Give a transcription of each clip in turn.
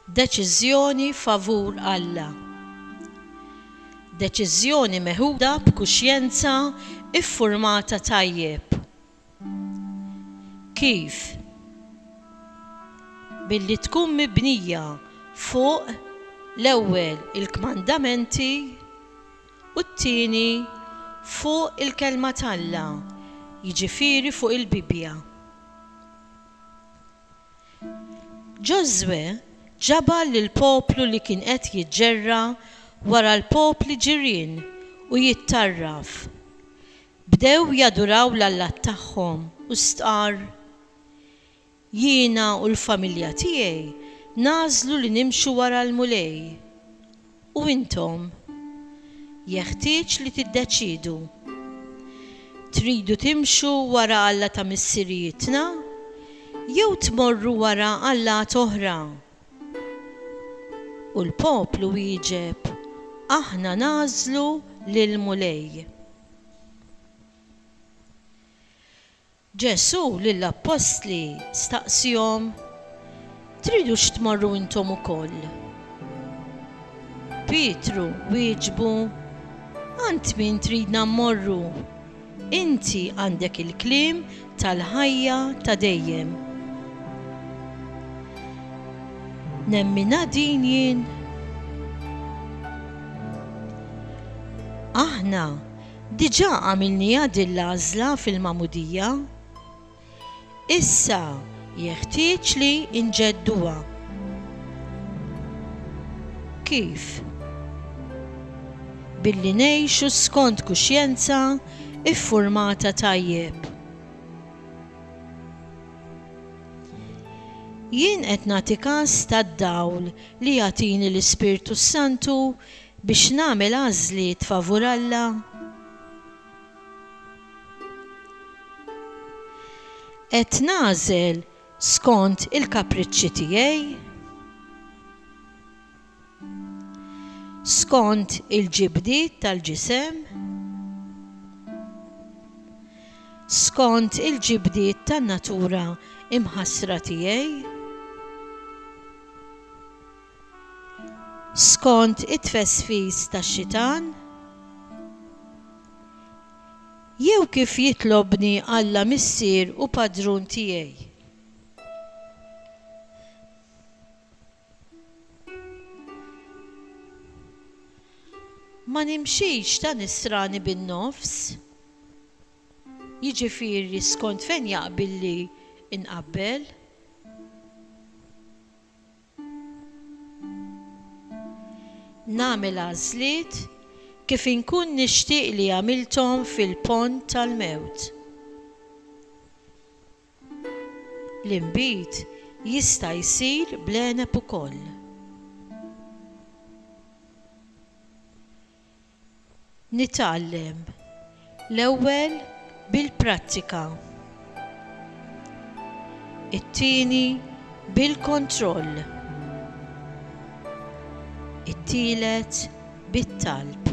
Deċiżjoni favur Alla. Deċiżjoni meħuda b'kuxjenza ffurmata tajjeb. Kif? Billi tkun mibnija fuq, l-ewwel, il-kmandamenti, u t-tieni fuq il-Kelma t'Alla, jiġifieri fuq il-Bibbja. Ġożwè ġabar lill-poplu li kien qed jiġġerra' wara l-popli ġirien u jittarraf. Bdew jaduraw l-allat tagħhom u stqarr, Jiena u l-familja tiegħi nagħżlu li nimxu wara l-Mulej. U intom? Jeħtieġ li tiddeċiedu. Tridu timxu wara Alla ta' missirijietna jew tmorru wara allat oħra? U l-poplu wieġeb, Aħna nagħżlu lill-Mulej. Ġesù lill-appostli staqsiehom, Tridux tmorru intom ukoll? Pietru wieġbu, Għand min tridna mmorru? Inti għandek il-kliem tal-ħajja ta' dejjem. Nemminha din jien? Aħna Diġà għamilniha din l-għażla fil-Magħmudija. Issa jeħtieġ li nġedduha. Kif? Billi ngħixu skont kuxjenza ffurmata tajjeb. Jien qed nagħti kas tad-dawl li jagħtini l-Ispirtu s-Santu Biex nagħmel għażliet favur Alla? Qed nagħżel skont il-kapriċċi tiegħi? Skont il-ġibdiet tal-ġisem? Skont il-ġibdiet tan-natura imħassra tiegħi? Skont it-tfesfis tax-xitan? Jew kif jitlobni Alla Missier u Padrun tiegħi? Ma nimxix ta' nisrani bin-nofs, jiġifieri skont fejn jaqbilli nqabbel. Nagħmel għażliet kif inkun nixtieq li għamilthom fil-pond tal-mewt. L-inbid jista' jsir bl-għeneb ukoll. Nitgħallem l-ewwel bil-prattika. It-tieni bil-kontroll. It-tielet bit-talb.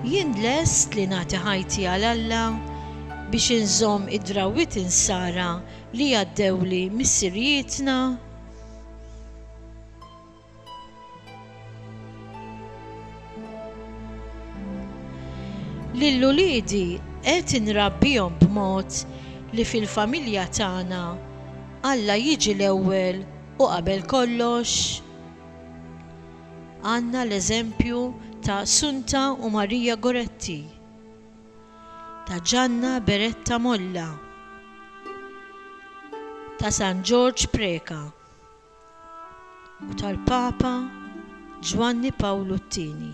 Jien lest li nagħti ħajti għal Alla biex inżomm id-drawwiet insara li għaddewli missirijietna lil uliedi qed inrabbihom b'mod li fil-familja tagħna Alla jiġi l-ewwel u qabel kollox? Għandna l-eżempju ta' Sunta u Maria Goretti. ta' Ġanna Beretta Molla ta' San Ġorġ Preca u tal-Papa Ġwanni Pawlu t-Tieni.